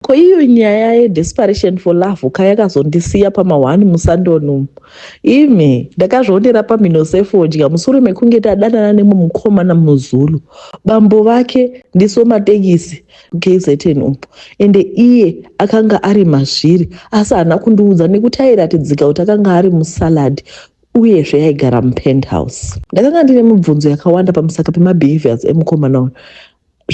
Ko iyo nyaya ye desperation for love ka yakazondisiya pama one musandoni umu. Imi ndakazvionera pamhino sefodya musure mekunge tadanana nemwe mukomana muzulu. Bambo vake ndisomatekisi KZN umu ende iye akanga ari mazviri asi haana kundiudza nekuti airatidzika kuti akanga ari musalad uyezve yaigara mupenthouse. Ndakanga ndine mibvunzo yakawanda pamusaka pemabehaviours emukomana uyu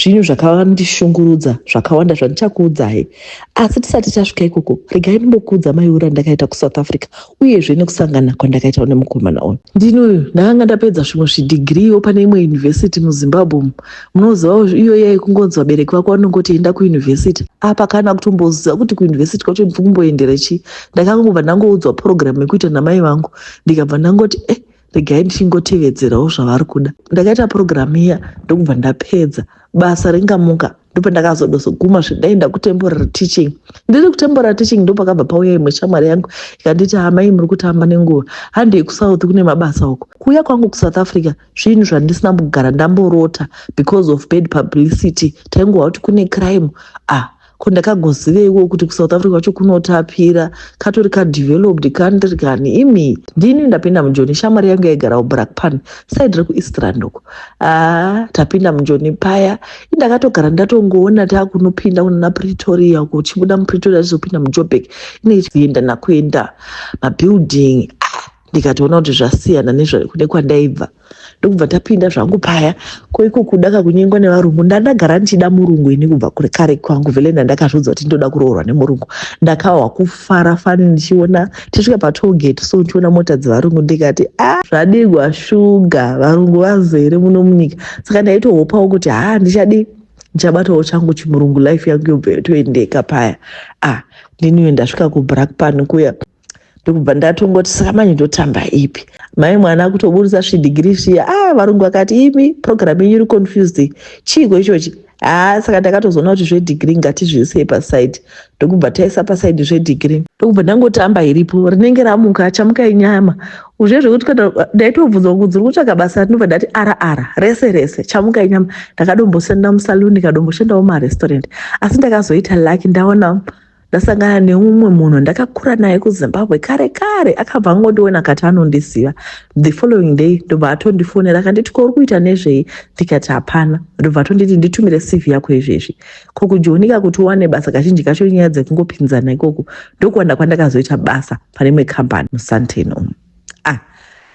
zvinhu zvakavandishungurudza zvakawanda zvandichakuudzai asi tisati tasvika ikoko regai ndimbokuudza maiura andakaita kusouth africa uyezve nekusangana kwandakaita nemukomana uyu ndini uyu ndakanga ndapedza zvimwe zvidhigiriwo pane imwe yunivhesiti muzimbabwe umu munozivawo iyo yai kungonzi vabereki vako vanongoti enda kuyunivhesiti apa kana kutomboziva kuti kuyunivhesiti kwacho ndiri kumboendera chii ndakangobva ndangoudzwa purogiramu yekuita namai vangu ndikabva ndangoti eh regai ndichingotevedzerawo zvavari kuda ndakaita purogiramu iya ndokubva ndapedza basa ringamuka ndopandakazodozoguma zvedai ndakutemporary teaching ndiri kutemporary teaching ndopakabva pauya imwe shamwari yangu ikanditi amai muri kutamba nenguva handei kusouth kune mabasa uko kuuya kwangu kusouth africa zvinhu zvandisina kugara ndamborota because of bad publicity taingohwa kuti kune crime ah ko ndakagoziveiwo kuti kusouth africa kwacho kunotapira katori kadeveloped country kani imi ndini ndapinda mujoni shamwari yangu yaigarawo brakpan said rekueastrand uko aa tapinda mujoni paya indakatogara ndatongoona takunopinda kunana pretoria uko uchibuda mupretoria tizopinda mujobek ineienda nakuenda mabuilding ndikatoona kuti zvasiyana nezvekune kwandaibva ndokubva tapinda zvangu paya koiko kuda kakunyengwa nevarungu ndandagara ndichida murungu ini kubva kure kare kwangu vele ndandakazviudza kuti ndoda kuroorwa nemurungu ndakahwa kufara fani ndichiona tisvika patogate so ndichiona mota dzevarungu ndikati a ah, zvadigwa shuga varungu vazere muno munyika saka ndaitohopawo kuti haa ah, ndichadi ndichabatawo changu chimurungu life yangu yobva yotoendeka paya a ah, ndiniwe ndasvika kubrak pan kuya ndokubva ndatongoti saka manje ndotamba ipi mai mwana akutoburitsa zvidhigiri zviya ah varungu vakati imi programu yenyu iri confused chiiko ichochi haa ah, saka ndakatozoona kuti zvedhigiri ngatizviisei pasaidi ndokubva taisa pasaidi zvedhigiri ndokubva ndangotamba iripo rinenge ramuka achamuka inyama uzve zvekuti kana ndaitobvunza kunzi uri kutsvaga basa ndinobva ndati ara ara rese rese chamuka inyama ndakadomboshanda musaluni kadomboshandawo mumarestaurant asi ndakazoita lucky ndaona ndasangana neumwe munhu ndakakura naye kuzimbabwe kare kare akabva angondiona akati anondiziva the following day ndobva atondifonera akanditi ko uri kuita nezvei ndikati hapana ndobva atonditi nditumire cv yako izvezvi ko kujonika kuti uwane basa kazhinji kacho nyaya dzekungopinzana ikoko ndokuwanda kwandakazoita basa pane imwe kambani musanteni umu ah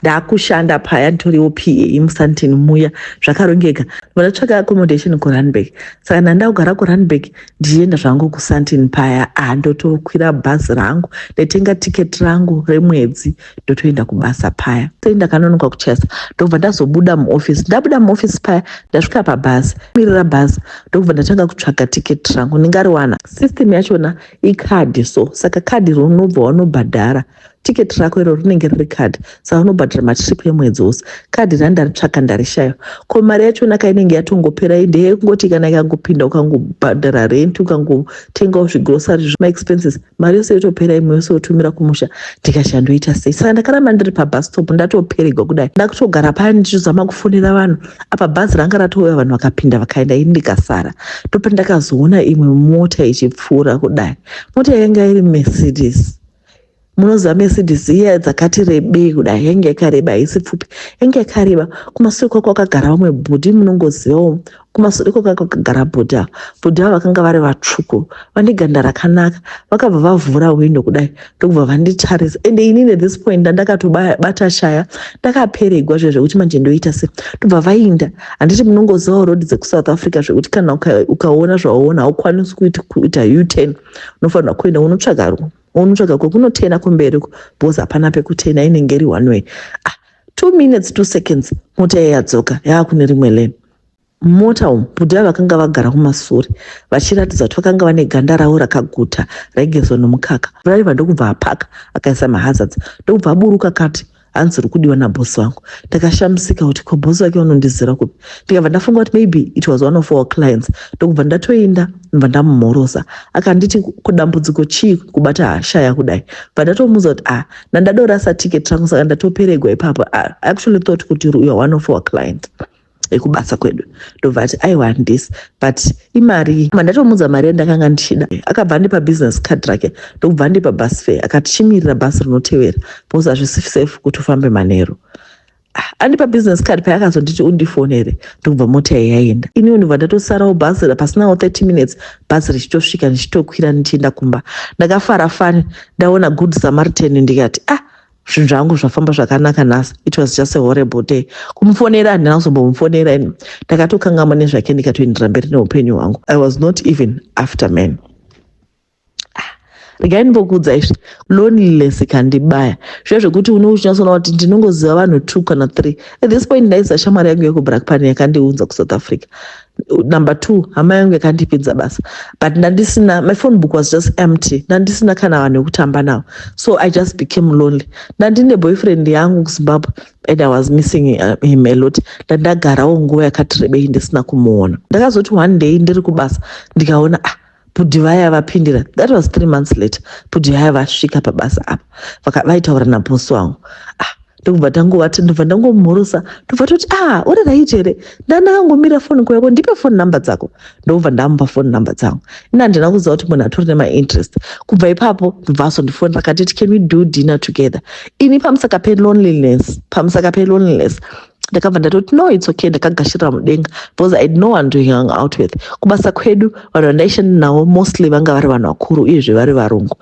ndakushanda paya nditoriwo pa musantini muya zvakarongeka vanotsvaka accommodation kurunburg saka nanda kugara kurunburg ndichienda zvangu kusantini paya ah ndotokwira bhazi rangu ndaitenga ticket rangu remwedzi ndotoenda kubasa paya sei ndakanonoka kuchesa ndobva ndazobuda muoffice ndabuda muoffice paya ndasvika pabhazi mirira bhazi ndokubva ndatanga kutsvaga ticket rangu ndingariwana system yachona icard so saka card rinobva wanobhadhara tiketi rako iro rinenge riri kadhi saka unobhadhara matrip emwedzi wose kadhi ra ndaritsvaka ndarishaya ko mari yachona ka inenge yatongopera ende yekungoti kana ikangopinda ukangobhadhara rent ukangotengawo zvigrosary zvemaexpenses mari yose yotopera imwe yose yotumira kumusha ndikashandoita sei saka ndakaramba ndiri pabus stop ndatoperegwa kudai ndakutogara paya ndichizama kufonera vanhu apa bhazi ranga ratouya vanhu vakapinda vakaenda ini ndikasara ndopandakazoona imwe mota ichipfuura kudai mota yanga iri mercedes munoziva mercedes iya dzakati rebei kuda yenge yakareba haisi pfupi yenge yakareba kumasure kwako kwakagara vamwe bhudhi munongozivawo kumasure kwako kwakagara bhudhi avo bhudhi avo vakanga vari vatsvuku vane ganda rakanaka vakabva vavhura hwindo kudai ndokubva vanditarisa ende inini this point ndandakatobata shaya ndakaperegwa zve zvekuti manje ndoita se ndobva vainda handiti munongozivawo road dzekusouth africa zvekuti kana ukaona zvawaona haukwanisi kuita uturn unofanirwa kuenda unotsvaga ruwa unotsvaga kwekunotena kumberi uko because hapana pekutena inenge iri one way ah, two minutes two seconds mota iya yadzoka yaakune rimwe lane mumota umu bhudhi ava vakanga vagara kumasure vachiratidza kuti vakanga vane ganda ravo rakaguta raigezwa nomukaka raiva ndokubva apaka akaisa mahazards ndokubva aburuka kati hanzi uri kudiwa nabosi vangu ndakashamisika kuti ko bosi vake vanondizira kupi ndikabva ndafunga kuti maybe it was one of our clients ndokubva ndatoinda ndobva ndamumhorosa akanditi kudambudziko chii kubata hasha yakudai bva ndatomuudza kuti ah nandadorasa ticket rangu saka ndatoperegwa ipapo ah, actually thought kuti you are one of our clients ekubasa kwedu ndobva ati aiwa handisi but imari mandatomuudza mari yandakanga ndichida akabva andipa business card rake ndokubva andipa bus fare akati chimirira bhasi rinotevera because hazvisi safe kuti ufambe manheru ah, andipa business card paya akazonditi undifonere ndokubva mota yayi yaenda iniwo ndobva ndatosarawo bhasi pasinawo 30 minutes bhasi richitosvika ndichitokwira ndichienda kumba ndakafara fani ndaona good samaritan ndikati ah zvinhu zvangu zvafamba zvakanaka nhasi it was just a horrible day kumufonera handina kuzombomufonera ini ndakatokangama nezvake ndikatoendera mberi neupenyu hwangu i was not even after man ah, regai ndimbokuudza izvi loneliness ikandibaya zviya zvekuti une uchinyatsoona kuti ndinongoziva vanhu two kana three at this point ndaisa shamwari yangu yekubrakpan yakandiunza kusouth africa number two hama yangu yakandipedza basa but ndandisina my phone book was just empty ndandisina kana vanhu vekutamba navo so i just became lonely ndandine boyfriend yangu kuzimbabwe and i was missing uh, him a lot ndandagarawo nguva yakati rebei ndisina kumuona ndakazoti one day ndiri kubasa ndikaona ah Bhudhi vaya vapindira, that was three months later. Bhudhi vaya vasvika pabasa apa vaitaura nabhosi wangu ah, ndokubva tangovati ndobva ndangomhorosa ndobva toti ah uri right here ndandakangomira foni kwako ndipe foni number dzako ndokubva ndamupa foni number dzangu ini handina kuziva kuti munhu atori nemainterest kubva ipapo ndobva azondifonera akatiti can we do dinner together ini pamusaka peloneliness pamusaka peloneliness ndakabva ndatoti no its okay ndakagashirira mudenga because i know vanhu tohang out with kubasa kwedu vanhu vandaishanda navo mostly vanga vari vanhu vakuru uyezve vari varungu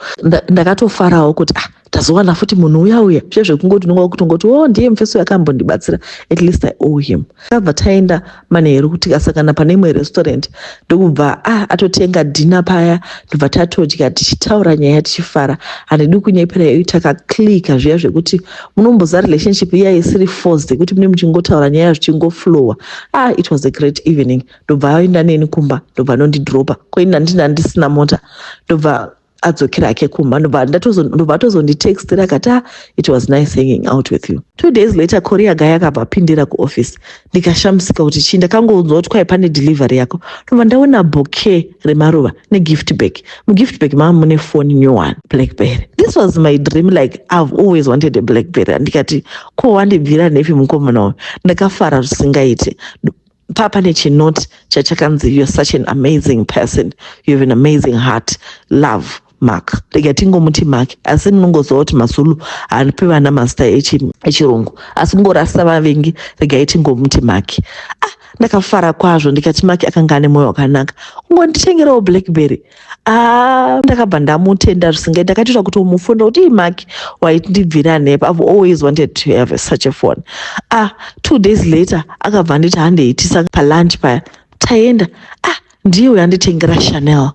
ndakatofarawo kuti ah tazowana futi munhu uya uya zve zvekungoti unonga kutongoti o oh, ndiye mufesi uyo akambondibatsira at least i owe him akabva taenda manheru kuti kasangana pane imwe restaurant ndokubva ah, atotenga dhina paya ndobva tatodya tichitaura nyaya tichifara handidi kunyepera iyo takaclika zviya zvekuti munomboza relationship iya isiri forced yekuti mune muchingotaura nyaya zvichingoflowa ah, it was a great evening ndobva aenda neni kumba ndobva anondidropa koini andina ndisina mota ndobva adzokera hake kumba ndobva atozonditextira akati ah, it was nice hanging out with you two days later korea guy akabva apindira kuoffice ndikashamisika kuti chii ndakangounzwa kuti kwai pane delivery yako ndobva ndaona bouquet remaruva negift bag mugift bag mava mune phone new one blackberry this was my dream like i've always wanted a blackberry ndikati ko wandibvira nepi mukomana uyu ndakafara zvisingaite papa nechinot chachakanzi you're such an amazing person you have an amazing heart love mark rega tingomuti mark asi munongoziva kuti mazulu haripi vana mazita echirungu asi kungorasa vavengi regai tingomuti mark ah ndakafara kwazvo ndikati mark akanga ane mwoyo wakanaka kungonditengerawo blackberry Ah, ndakabva ndamutenda zvisingai ndakatoita kuti umufunira kuti imaki waiti ndibvira nepa i've always wanted to have such a phone ah two days later akabva anditi handeitisa palunch paya taenda ah ndiye uyo anditengera chanel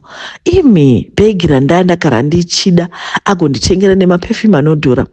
imi bhegi randaya ndakara ndichida agonditengera nemapefumi anodhura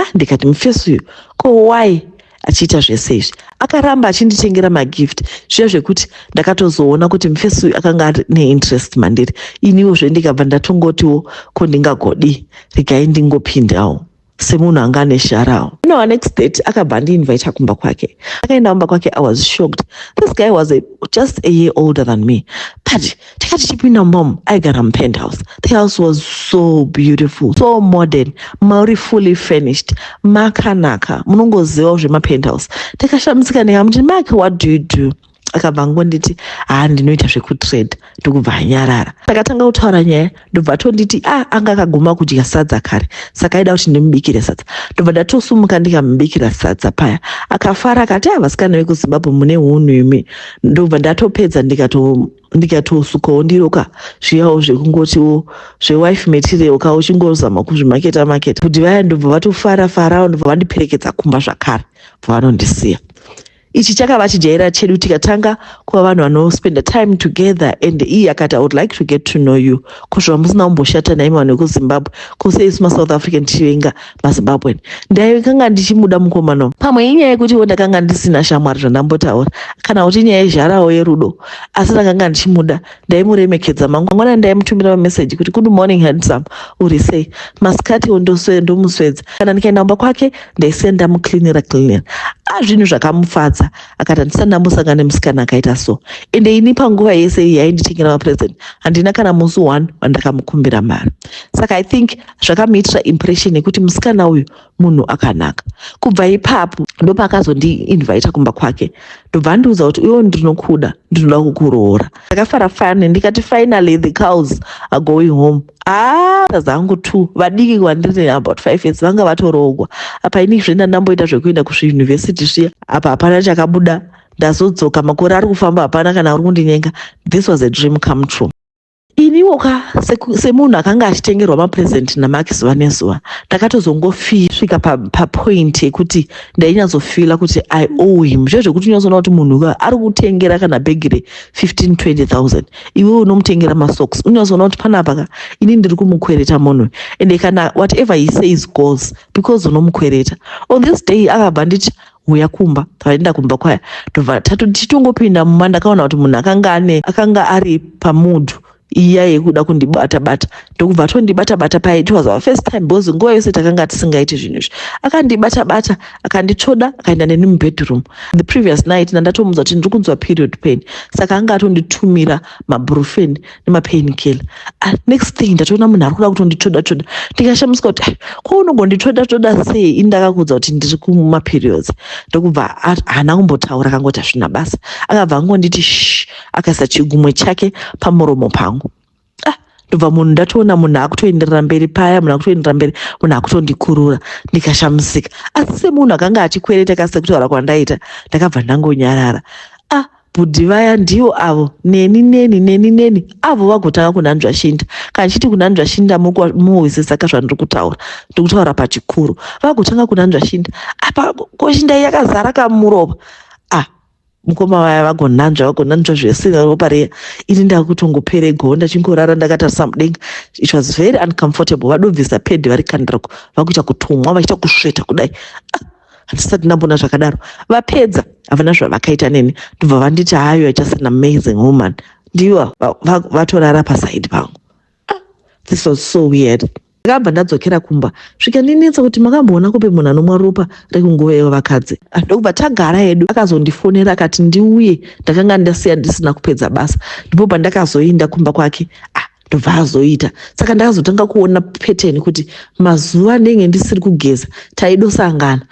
ah ndikati mufesi uyu ko why achiita zvese izvi akaramba achinditengera magift zviya zvekuti ndakatozoona kuti mufesi uyu akanga ari neinterest mandiri iniwo zve ndikabva ndatongotiwo ko ndingagodii regai ndingopindawo semunhu anga ane sharawo no next date akabva andiinvita kumba kwake akaenda kumba kwake i was shocked this guy was a, just a year older than me but Taiva tichipinda mom aigara mupenthouse. The house was so beautiful, so modern, mauri fully furnished, makanaka, munongozivawo zvemapenthouse. Ndakashamisika ndikamuti, Mark, what do you do? akabva angonditi haa ndinoita zvekutrade ndokubva anyarara takatanga kutaura nyaya ndobva tonditi a ah, anga akaguma kudya sadza kare saka aida kuti ndimubikire sadza ndobva ndatosumuka ndikamubikira sadza paya akafara akati a ah, vasikana vekuzimbabwe mune hunhu imi ndobva ndatopedza ndikatosukawo ndiro ka zviyawo zvekungotiwo zvewife material ka uchingozama kuzvimaketa maketa kuti vaya ndobva vatofara farawo ndobva vandiperekedza kumba zvakare bva vanondisiya ichi chakava chijaira chedu tikatanga kuva vanhu vanospenda time together and iye akati i would like to get to know you kusvika musina kumboshata naimi vanhu vekuzimbabwe kose isu masouth african tichivenga mazimbabwen ndaikanga ndichimuda mukomana pamwe inyaya yekuti wo ndakanga ndisina shamwari zvandambotaura kana kuti inyaya yezharawo yerudo asi ndakanga ndichimuda ndaimuremekedza mangwanani ndaimutumira mameseji kuti good morning handsome uri sei masikati ndomuswedza kana ndikaenda mumba kwake ndaisiya ndamuklinira klinira a ah, zvinhu zvakamufadza akati handisati ndambosangana nemusikana akaita so ende ini panguva yese iyi yainditengera mapresent handina kana musi one wandakamukumbira mari saka i think zvakamuitira impression yekuti musikana uyu munhu akanaka kubva ipapo ndopakazondiinvita kumba kwake ndobva andiudza kuti uyo ndinokuda ndinoda kukuroora ndakafara fani ndikati finally the cows are going home aa ah, zangu two vadiki kwandiri about five years vanga vatoroogwa apa ini zvenda ndamboita zvekuenda kuzviuniversity zviya apa hapana chakabuda ndazodzoka makore ari kufamba hapana kana uri kundinyenga this was a dream come true iniwo ka seku- semunhu akanga achitengerwa mapresent namaki zuva nezuva ndakatozongosvika papoint pa yekuti ndainyatsofila kuti i owe him zve zvekuti unyatsoona kuti munhu ka ari kutengera kana bhegi re 15 20000 iwe unomutengera masocks unyatsoona kuti panapa ka ini ndiri kumukwereta munhu ende kana whatever he says goes because unomukwereta on this day akabva nditi huya kumba tavaenda kumba kwaya tobva tichitongopinda mumba ndakaona kuti munhu akanga ane akanga ari pamudhu iya yekuda kundibata bata ndokubva atondibata bata paye it was our first time because nguva yose takanga tisingaiti zvinhu izvi akandibata bata akanditsvoda akaenda neni mubedroom the previous night ndandatomudza kuti ndiri kunzwa period pain saka anga atonditumira mabrufen nemapain killer ah, next thing ndatoona munhu ari kuda kutonditsvoda tsvoda ndikashamiswa kuti ko ah, unogonditsvoda tsvoda sei ini ndakakuudza kuti ndiri kumaperiods ndokubva haana kumbotaura akangoti hazvina basa akabva angonditi sh akaisa chigumwe chake pamuromo pangu ah, ndobva munhu ndatoona munhu akutoenderera mberi paya munhu akutoenderera mberi munhu akutondikurura ndikashamisika asi semunhu akanga achikwereta kasi sekutaura kwandaita ndakabva ndangonyarara Bhudhi vaya ndivo avo neni neni neni neni avo vagotanga kunanzva shinda kana chiti kunanzva shinda muhwisisa ka zvandiri kutaura ndikutaura pachikuru vagotanga kunanzva shinda apa ko shinda yakazara kamurova ah mukoma vaya vagonanzva vagonanzva zvesina ropa riya ini ndakutongopere goho ndachingorara ndakatarisa mudenga it was very uncomfortable vadobvisa pedi vari kandirako vakuita kutumwa vachiita kusveta kudai ah. handisati ndambona zvakadaro vapedza havana zvavakaita neni ndobva vanditi hayo just an amazing woman ndivo vatorara pasaidi pangu ah, this was so weird ndakabva ndadzokera kumba zvikandinetsa kuti makamboona kupi munhu anomwa ropa rekunguva yevo vakadzi ah, ndokubva tagara yedu akazondifonera akati ndiuye ndakanga ndasiya ndisina kupedza basa ndipo pandakazoinda kumba kwake ah, ndobva azoita saka ndakazotanga kuona pattern kuti mazuva anenge ndisiri kugeza taidosangana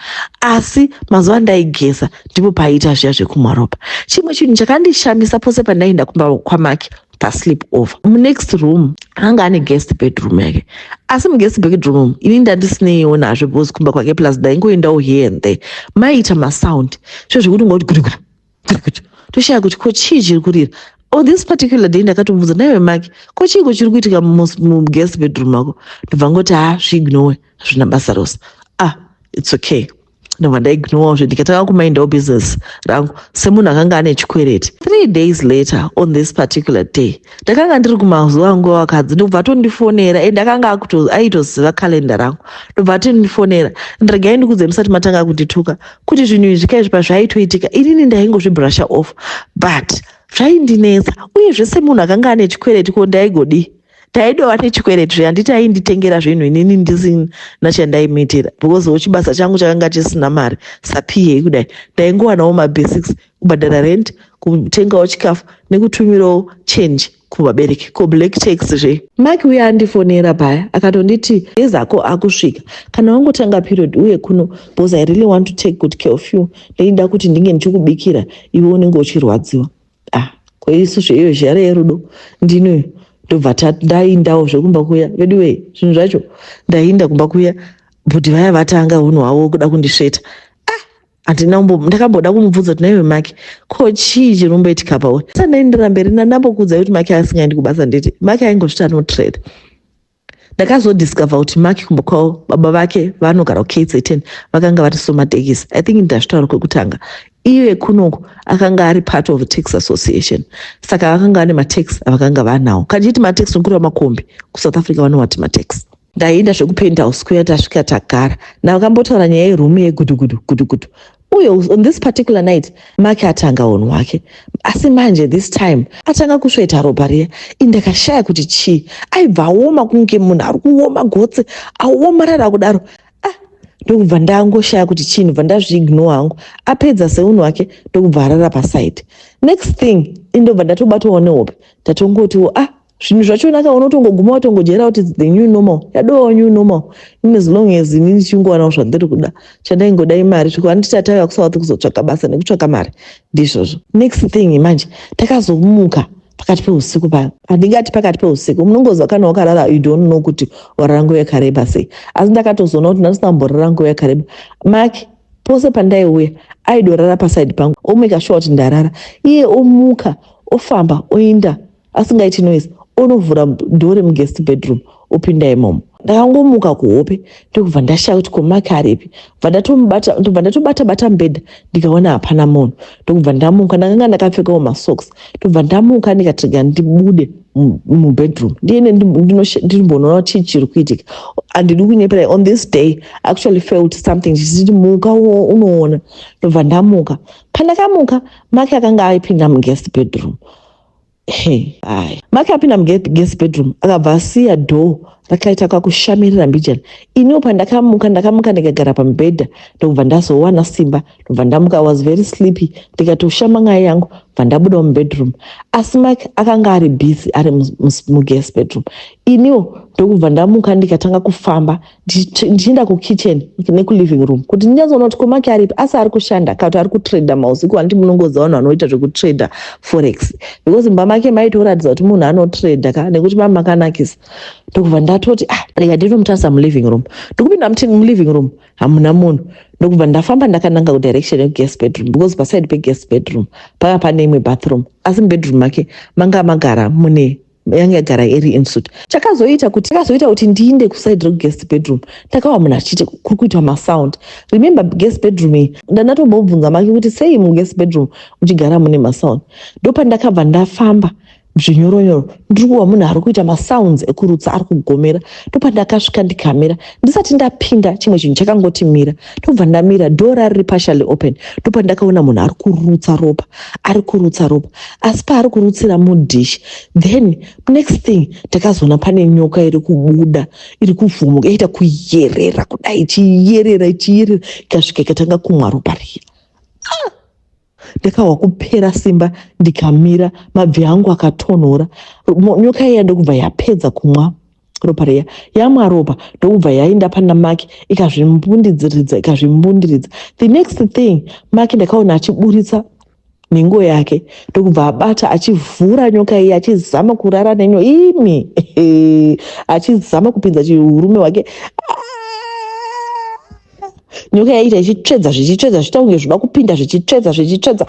asi mazuva ndaigeza ndipo paiita zviya zvekumaropa chimwe chinhu chakandishamisa pose pandaienda kumba kwamake pasleep over munext room anga ane guest bedroom yake asi muguest bedroom ini ndandisineyiwo nazvo bcause kumba kwake plus ndaingoendawo here and there maiita masound svezvekuti ngoti guriguri toshaya kuti ko chii chiri kurira on oh, this particular day ndakatomubvunza naiwe maki ko chiiko chiri kuitika muguest bedroom mako ndobva ngoti ha ah, zviignowe hazvina basa rose ah its okay ndobva ndaignowa zve ndikatanga kumindawo business rangu semunhu akanga ane chikwereti three days later on this particular day ndakanga ndiri kumazuva nguva vakadzi ndobva atondifonera and akanga akuto- aitoziva kalenda rangu ndobva atondifonera and regai ndikudze musati matanga kundituka kuti zvinhu izvi kaizvi pazvaitoitika inini ndaingozvibrusha off but zvaindinetsa uye zvese munhu akanga ane chikwereti ko ndaigodii ndaidova nechikwereti zve handiti ainditengera zvinhu inini ndisina chandaimuitira because wo chibasa changu chakanga chisina mari sapiyei kudai ndaingowanawo mabasics kubhadhara rent kutengawo chikafu nekutumirawo change kuvabereki ko black tax zve mike uye andifonera paya akatonditi ezako akusvika kana wangotanga period uye kuno bcause i really want to take good care of you ndaida kuti ndinge ndichikubikira iwe unenge uchirwadziwa ah koisu zveiyo zhare yerudo ndinoyo ndobva ndaindawo zvekumba kuya veduwee zvinhu zvacho ndainda kumba kuya bhudhi vaya vatanga hunhu hwavo kuda kundisveta handina kumbo ndakamboda kumubvunza kuti naiwe make ko chii chiri kumboitika pawe sandaindira mberi ndandambokuudzai kuti make asingaendi kubasa nditi make aingozviti anotrade ndakazodiscover kuti make kumba kwavo baba vake vanogara kukzn vakanga vari somatekisi i think ndazvitaura kwekutanga iye kunoku akanga ari part of tax association saka vakanga vane matax avakanga vanawo kandichiti matax nokuri vamakombi kusouth africa vanowati matax Ndaienda zvekupenthouse kuya tasvika tagara. Ndakambotaura nyaya yeroom yegudugudu gudugudu. Uye on this particular night Mark atanga hunhu hwake. Asi manje this time atanga kusveta ropa riya. Ini ndakashaya kuti chii. Aibva aoma kunge munhu ari kuoma gotsi aomarara kudaro. Ah, ndokubva ndangoshaya kuti chii ndobva ndazviignore hangu. Apedza seunhu hwake ndokubva arara paside. Next thing ini ndobva ndatobatawo nehope. Ndatongotiwo ah zvinhu zvachona ka unotongoguma watongojaira kuti the new normal yadowa new normal in as long as ini ndichingowanawo zvandiri kuda chandaingoda imari zvekuti handiti atauya kusouth kuzotsvaka basa nekutsvaka mari ndizvozvo next thing manje takazomuka pakati peusiku paya handingati pakati peusiku munongoziva kana wakarara you don't know kuti warara nguva yakareba sei asi ndakatozoona kuti ndandisina kumborara nguva yakareba mak pose pandaiuya aidorara pasaidi pangu omeka shuwa kuti ndarara iye omuka ofamba oinda asingaiti noise onovhura door remuguest bedroom opinda imomo ndakangomuka kuhope ndokubva ndashaya kuti komake aripi bva ndatomubata ndobva ndatobata bata mbedha ndikaona hapana munhu ndokubva ndamuka ndakanga ndakapfekawo masocks ndobva ndamuka ndikatiga ndibude mubedroom ndiene ndimbonona kuti chii chiri kuitika handidi kunyepera on this day actually felt something chichiti muka unoona ndobva ndamuka pandakamuka make akanga aipinda muguest bedroom Hey, ayi. Maki apinda muguest bedroom akabva asiya door rakaita kakushamirira mbijana. Iniwo pandakamuka ndakamuka ndikagara pamubhedha ndokubva ndazowana simba ndobva ndamuka I was very sleepy ndikatoshama nyaya yangu bva ndabudawo mubedroom asi Maki akanga ari busy ari muguest bedroom. Iniwo ndokubva ndamuka ndikatanga kufamba ndichienda kukitchen nekuliving room kuti ndinyazoona kuti komake aripi asi ari kushanda kana kuti ari kutrader mausiku handiti munongoziva vanhu vanoita zvekutrader forex because mumba make maitoratidza kuti munhu anotrader ka nekuti mama makanakisa ndokubva ndatoti ah rega ndinomutarisa muliving room ndikupinda muti muliving room hamuna munhu ndokubva ndafamba ndakananga kudirection yekugas bedroom because paside pegas bedroom panga pane imwe bathroom asi mubedroom make manga magara mune yanga yagara iri insuit chakazoita kuti chakazoita kuti ndiinde kuside reguest bedroom ndakawa munhu achiti kuri kuitwa masound remember guest bedroom iyi ndandatombobvunza make kuti sei muguest bedroom muchigara mune masound ndopandakabva ndafamba zvinyoronyoro ndiri kuva munhu ari kuita masounds ekurutsa ari kugomera ndopandakasvika ndikamira ndisati ndapinda chimwe chinhu chakangoti mira ndobva ndamira door riri partially open ndopa ndakaona munhu ari kurutsa ropa ari kurutsa ropa asi paari kurutsira mudish then next thing ndakazoona pane nyoka iri kubuda iri kuvhumuka yaita kuyerera kudai ichiyerera ichiyerera ikasvika ikatanga kumwa ropa riya ndakahwa kupera simba ndikamira mabvi angu akatonhora nyoka iya ndokubva yapedza kumwa ropa riya yamwa ropa ndokubva yainda pana maki ikazvimbundidziridza ikazvimbundiridza the next thing maki ndakaona achiburitsa nhengo yake ndokubva abata achivhura nyoka iye achizama kurara nenyo imi achizama kupinza chiurume hwake nyoka yaiita ichitsvedza zvichitsvedza zvichita kunge zvoda kupinda zvichitsvedza zvichitsvedza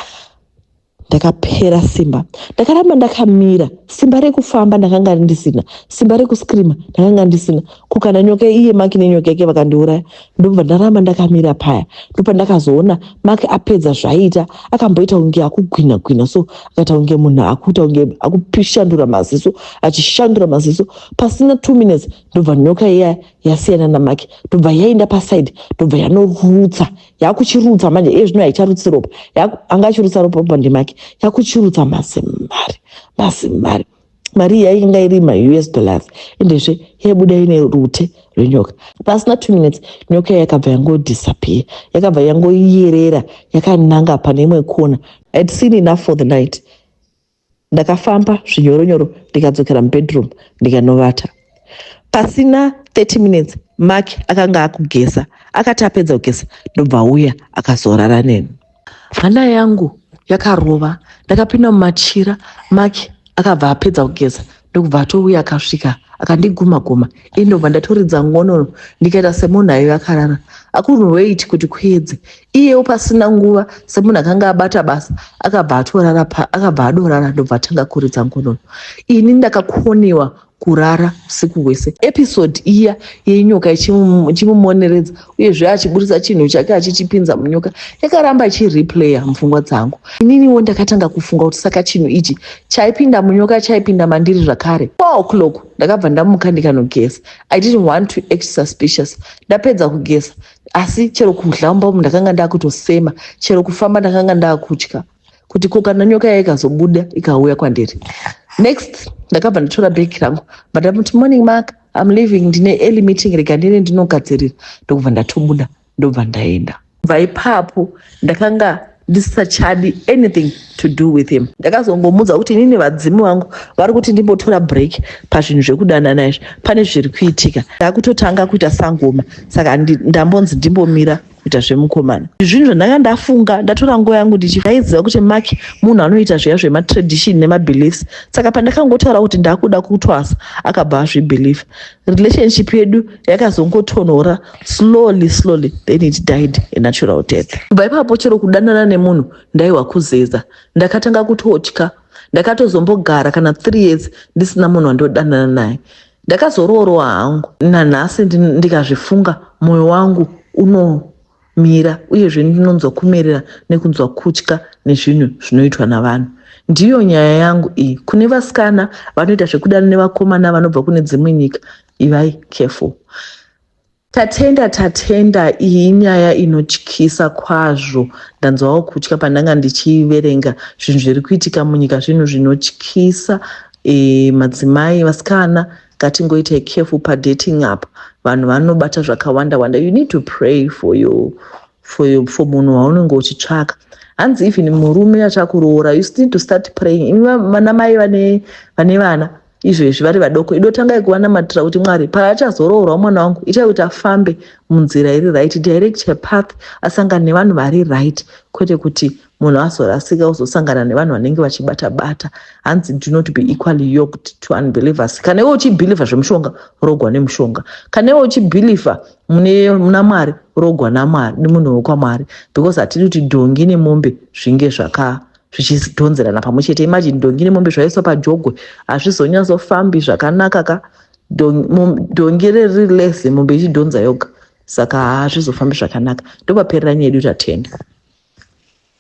ndakapera simba ndakaramba ndakamira simba rekufamba ndakanga ndisina simba rekuscreama ndakanga ndisina kukana nyoka iye maki nenyoka yake vakandiuraya ndobva ndaramba ndakamira paya ndopa ndakazoona maki apedza zvaiita akamboita kunge akugwina gwina so akaita kunge munhu akuita kunge akushandura maziso achishandura maziso pasina two minutes ndobva nyoka iya yasiyana namake tobva yaenda paside tobva yanorutsa yakuchirutsa manje iye zvino haicharutsi ropa anga achirutsa ropa ropa ndemake yakuchirutsa mazimari mazimari mari iya inga iri maus dollars endezve yaibuda ine rute rwenyoka pasina two minutes nyoka iya yakabva yangodisappear yakabva yangoyerera yakananga pane imwe kona had seen enough for the night Ndakafamba zvinyoro nyoro ndikadzokera mubedroom ndikanovata. Pasina 30 minutes Mark akanga akugeza. Akati apedza kugeza ndobva auya akazorara neni. Hana yangu yakarova ndakapinda mumachira Mark akabva apedza kugeza ndokubva atouya akasvika akandiguma guma ini ndobva ndatoridza ngonono ndikaita semunhu aive akarara akunhu wait kuti kuedze iyewo pasina nguva semunhu akanga abata basa akabva atorara akabva adorara ndobva atanga kuridza ngonono ini ndakakoniwa kurara usiku hwese episode iya yenyoka ichimumoneredza uyezve achiburitsa chinhu chake achichipinza munyoka yakaramba ichireplayer mupfungwa dzangu ininiwo ndakatanga kufunga kuti saka chinhu ichi chaipinda munyoka chaipinda mandiri zvakare four o'clock ndakabva ndamuka ndikanogeza i didn't want to act suspicious ndapedza kugeza asi chero kudla mumba umu ndakanga ndakutosema chero kufamba ndakanga ndakutya kuti ko kana nyoka yayo ikazobuda ikauya kwandiri next ndakabva ndatora bheki rangu but amuti morning mark im living ndine early meeting rega ndine ndinogadzirira ndokubva ndatobuda ndobva ndaenda bva ipapo ndakanga ndisisachadi anything to do with him ndakazongomudza kuti inini vadzimu vangu vari kuti ndimbotora break pazvinhu zvekudanana izvi pane zviri kuitika ndakutotanga kuita sangoma saka ndambonzi ndimbomira kuita zvemukomana zvinhu zvandanga ndafunga ndatora nguva yangu ndichivaiziva kuti mark munhu anoita zviya zvematradition nemabeliefs saka pandakangotaura kuti ndakuda kutwasa akabva azvibelieve relationship yedu yakazongotonhora slowly slowly then it died a natural death kubva ipapo chero kudanana nemunhu ndaiwa kuzeza ndakatanga kutotya ndakatozombogara kana three years ndisina munhu wandodanana naye Ndakazoroorwa hangu nanhasi ndikazvifunga moyo wangu unomira uyezve ndinonzwa kumerera nekunzwa kutya nezvinhu zvinoitwa navanhu. Ndiyo nyaya yangu iyi. Kune vasikana vanoita zvekudana nevakomana vanobva kune dzimwe nyika, ivai careful. Tatenda Tatenda iyi inyaya inotyisa kwazvo ndanzwawo kutya pandanga ndichiverenga zvinhu zviri kuitika munyika zvinhu zvinotyisa e, madzimai vasikana ngatingoita careful padating up vanhu vanobata zvakawanda wanda you need to pray for your for your for munhu waunenge uchitsvaka hanzi even murume achakuroora you still to start praying imi vanamai vane vana izvezvi vari vadoko ido tangai kuvanamatirira kuti mwari paachazoroorwa mwana wangu itai kuti afambe munzira iri right direct her path asangane nevanhu vari right kwete kuti munhu azorasika ozosangana nevanhu vanenge vachibata bata hanzi do not be equally yoked to unbelievers kana iwe uchibhilivha zvemushonga rogwa nemushonga kana iwe uchibhilivha muna mwari rogwa namwari nemunhu wekwamwari because hatidi kuti dhongi nemombe zvinge zvaka zvichidhonzerana pamwe chete imagine dhongi nemombe zvaiswa pajogwe hazvizonyatsofambi zvakanaka ka dhongi riri lese mombe ichidhonza yoga saka hazvizofambi zvakanaka ndopaperera nyedu tatenda